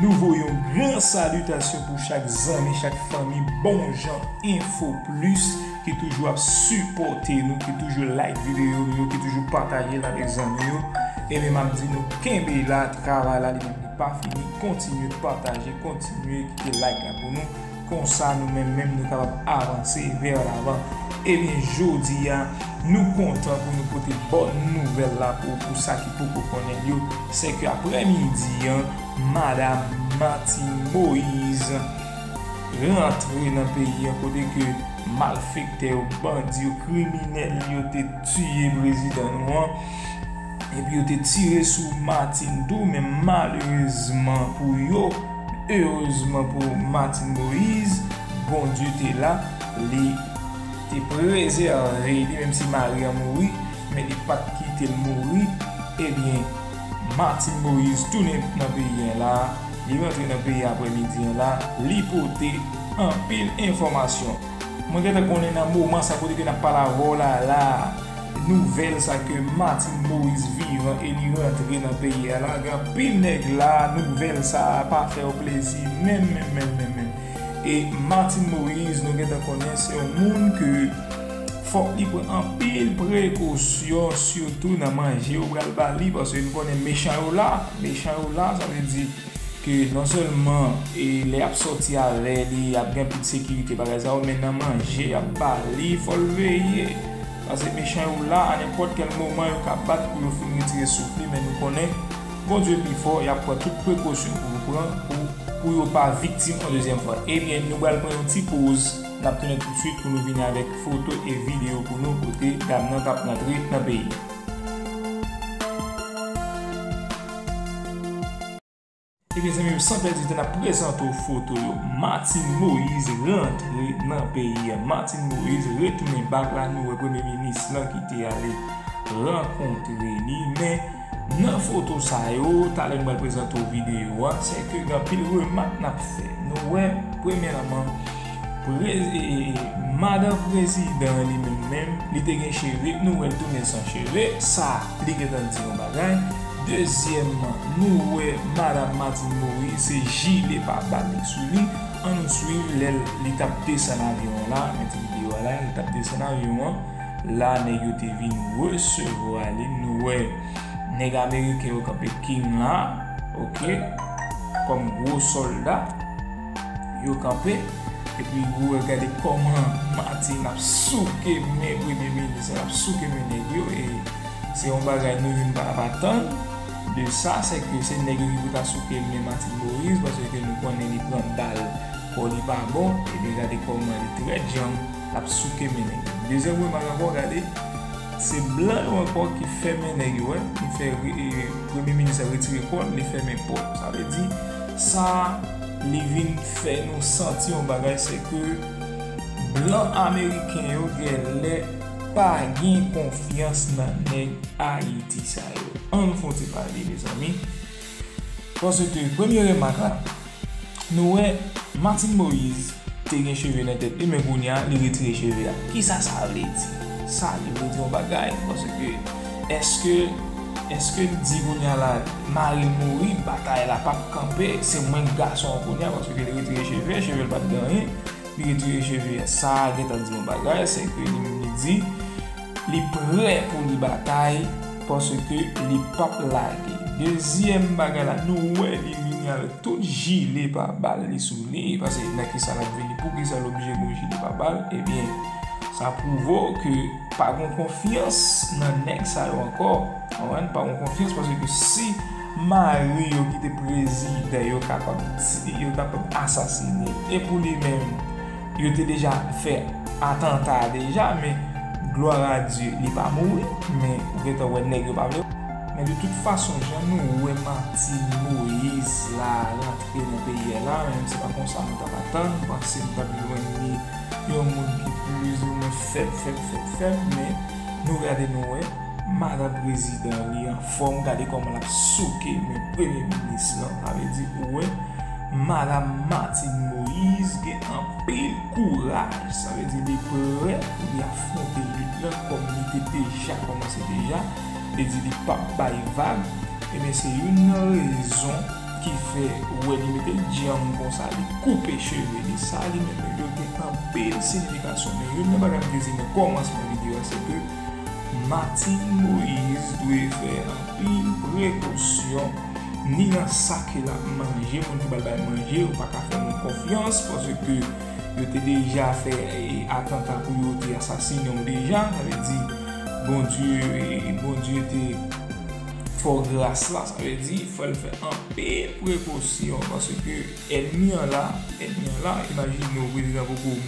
Nou voye yon gran salitasyon pou chak zanmi, chak fanmi bon jan enfo plis ki toujou ap sipòte nou, ki toujou like videyo nou yo, ki toujou pataje l avèk zanmi yo. Enben m ap di nou kenbe la, travay la li menm li pa fini, kontinye pataje, kontinye kite like la pou nou. Konsa nou menm menm nou kapab avanse vers l'avant. Ebyen jodi a nou kontan pou nou pote bòn nouvèl la pou ou pou sa ki poko konnen l yo, sè ke aprè midi an madam Martine Moise rantre nan peyi an kote ke malfektè yo, bandi yo, kriminèl yo te tiye prezidan nou an epi yo te tire sou Martine tou men malerezman pou yo. Erezman pou Martine Moise, Bondye te la, li te prezève li menm si mari an mouri, men li pa t kite l mouri. Ebyen, Martine Moise tounen nan peyi an la, li rantre nan peyi aprè midi an la, li pote anpil enfòmasyon. Mwen gentan konnen nan moman sa kote ke nap pale avèw la la nouvèl sa ke Martine Moise vivan e li rantre nan peyi a la gen anpil nèg la nouvèl sa pa fèw plezi menm menm menm menm menm e Martine Moise nou gentan konnen se yon moun ke fòk li pran anpil prekosyon sitou nan manje yo pral bali paske nou konnen mechan yo la mechan yo la sa vle di. ke non sèlman e lè yap sòti avè li ap gen tout sekirite bagay sa yo men nan manje yap bali fòl veye pase mechan yo la a nenpòt kèl moman yo ka bat pou yo fin retire souf li men nou konnen Bondye pi fò yap pran tout prekosyon pou yo pran pou yo pa viktim yon dezyèm fwa ebyen nou pral pran yon ti poz nap tounen tousuit pou nou vini avèk foto e video pou nou kote dam nan tap rantre nan peyi. Ebyen zanmim san pèdi tan nap prezante w foto yo Martine Moïse rantre nan peyi a Martine Moïse retounen bak la nou wè premye minis lan ki te ale rankontre li men nan foto sa yo talè nou pral prezante w videyo a se ke gen anpil remak nap fè nou wè premyèman Madan prezidan an li menm menm li te gen cheve nou wèl tounen san cheve sa li gentan di yon bagay dezyèmman nou wè madam Martine Moïse se jile pa bal li sou li an nou swiv lè li tap desann avyon an la gen ti video a la li tap desann avyon an la nèg yo te vin resevwa li nou wè nèg ameriken yo kanpe king la ok kòm gwo solda. Yo kanpe, epi ou wè gade kòman Martine ap souke men premye minis la, ap souke men nèg yo e se yon bagay nou youn pa tap atann de sa, sèke se nèg yo ki pou ta souke men Martine Moïse paske nou konnen li pran bal kò li pa bon, ebyen gade kòman li trè djanm lap souke men nèg yo. Dezyèm remak ankò gade se blan yo ankò ki fèmen nèg yo wè, ki fè premye minis la retire kòl li fèmen pòt sa vle di. Sa li vin fè nou santi yon bagay se ke blan ameriken yo gen lè pa gen konfyans nan nèg Ayiti sa yo. An nou fè yon ti pale mezanmi. Paske premye remak la, nou wè Martine Moïse. Te gen cheve nan tèt li men kounya li retire cheve a kisa sa vle di sa li vle di yon bagay paske eske eske li di kounya la maril mouri batay la pap kanpe se mwenk gason an kounya paske li retire cheve chevel pat gen anyen li retire cheve a sa gentan di yon bagay sèke li menm li di. Li prè pou li batay paske li pap lage. Dezyèm bagay la nou wè li vini avèk tout jile pa bal li sou li paske nan kisa lap vini poukisa l oblije gen yon jile pa bal ebyen sa pwouve w ke pa gen konfyans nan nèg sa yo ankò konprann pa gen konfyans paske si mari yo ki te prezidan yo kapab asasine e pou li menm Yo te deja fè atanta a deja men gloire à Dieu li pa mouri men ou gentan wè nèg yo pa vle Men de tout fason jan nou wè Martine Moïse la rantre nan peyi a la menm se pa konsa nou tap atann nou panse nou tap jwenn li yon moun ki plis ou mwen fèb fèb fèb fèb men nou gade nou wè madan prezidan li an Fòm gade kòman lap souke men premye minis lan avè di ou wè madam Martine Moise gen anpil kouraj sa vle di li prè pou li afronte lit lan kòm li te deja kòmanse deja li di li pap bay vag ebyen se youn nan rezon ki fè ou wè li metel dyanm konsa li koupe cheve li sa li menm yo gen anpil sinifikasyon men youn nan bagay m te di nan kòmansman videyo a se ke. Martine Moise dwe fè anpil prekosyon ni nan sa ke lap manje, moun ki pral bay manje yo paka fè moun konfyans paske yo te deja fè atanta pou yo te asasinenw deja, sa vle di Bondye Bondye te fè w gras la, sa vle di fòl fè anpil prekosyon paske ènmi an la, ènmi an la, imajine w prezidan poko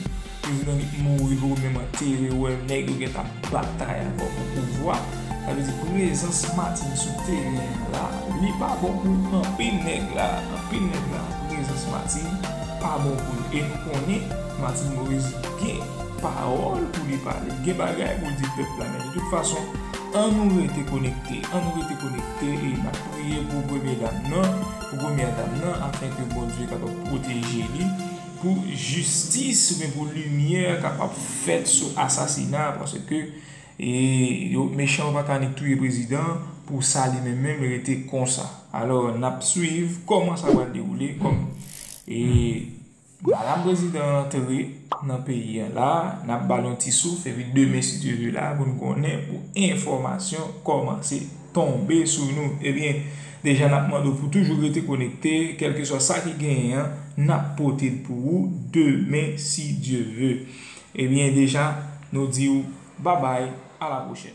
Prezidan Guy t mouri pou goumen mwen te riw wè nèg yo gentan ap batay ankò pou pouvwa sa vle di prezans Martine sou teren an la li pa bon pou anpil nèg la anpil nèg la prezans Martine pa bon pou yo e nou konnen Martine Moise gen pawòl pou li pale gen bagay pou l di pèp la men de tout fason an nou rete konekte an nou rete konekte e n ap priye pou premye dam nan pou premyè dam nan afenke Bondye kapab pwoteje li. Pou jistis oubyen pou limyè kapab fèt sou asasina paske yo mechan yo paka annik touye prezidan pou sa li menm menm rete konsa alò nap swiv kòman sa pral dewoule kòm e madam prezidan antre nan peyi a la nap bal yon ti souf epi demen si Dye ve la pou nou konnen pou enfòmasyon kòmanse. tonbe sou nou ebyen deja nap mande w pou toujou rete konekte kelkeswa sa ki genyen an nap pote l pou ou demen si Dye ve ebyen deja nou di w babay a la pwochèn.